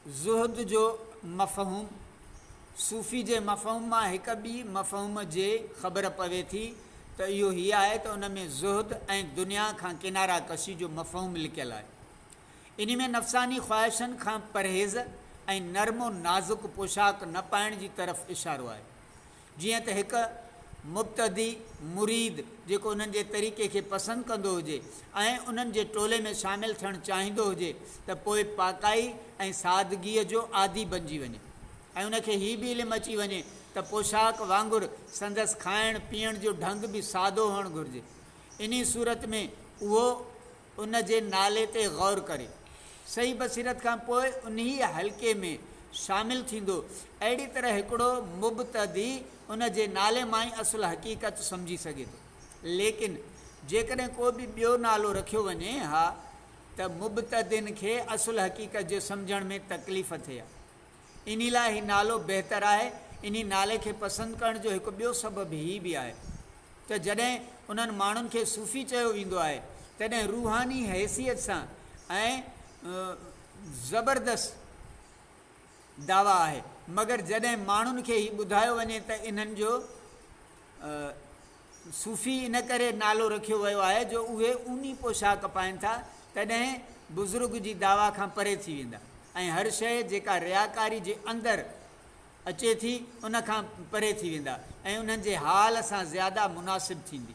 زهد جو مفهوم، صوفي جي مفهوم مان هڪ ٻي مفهوم جي خبر پوي ٿي ته اهو هي آهي ته ان ۾ زهد ۽ دنيا کان ڪناره ڪشي جو مفهوم لڪيل آهي. انهي ۾ نفساني خواهشن کان پرهيز ۽ نرم و نازڪ پوشاڪ نه پائڻ جي طرف اشارو آهي. جيئن ته هڪ مبتدي مريد جيڪو انهن جي طريقي کي پسند ڪندو هجي ۽ انهن جي ٽولي ۾ شامل ٿيڻ چاهيندو هجي ته پوء پاڪائي ۽ سادگيء جو عادي بنجي وڃي ۽ ان کي هي به علم اچي وڃي ته پوشاڪ وانگر سندس کائڻ پيئڻ جو ڍنگ به سادو هئڻ گهرجي انهي صورت ۾ اهو ان جي نالي تي غور ڪري صحيح بصيرت کان پوء انهيء حلقي ۾ شامل ٿيندو. اهڙي طرح هڪڙو مبتدي ان جي نالي مان ئي اصل حقيقت سمجهي سگهي ٿو. ليڪن جيڪڏهن ڪو به ٻيو نالو رکيو وڃي ها ته مبتدين کي اصل حقيقت جي سمجهڻ ۾ تڪليف ٿئي ها. انهي لاء هي نالو بهتر آهي. انهي نالي کي پسند ڪرڻ جو هڪ ٻيو سبب هي به آهي ته جڏهن انهن ماڻهن کي صوفي چيو ويندو آهي تڏهن روحاني حيثيت سان ۽ زبردست دعويٰ آهي مگر جڏهن ماڻهن کي هي ٻڌايو وڃي ته انهن جو صوفي ان ڪري نالو رکيو ويو آهي جو اهي اوني پوشاڪ پائين ٿا تڏهن بزرگ جي دعويٰ کان پري ٿي ويندا ۽ هر شيء جيڪا رياڪاري جي اندر اچي ٿي ان کان پري ٿي ويندا ۽ انهن جي حال سان زياده مناسب ٿيندي.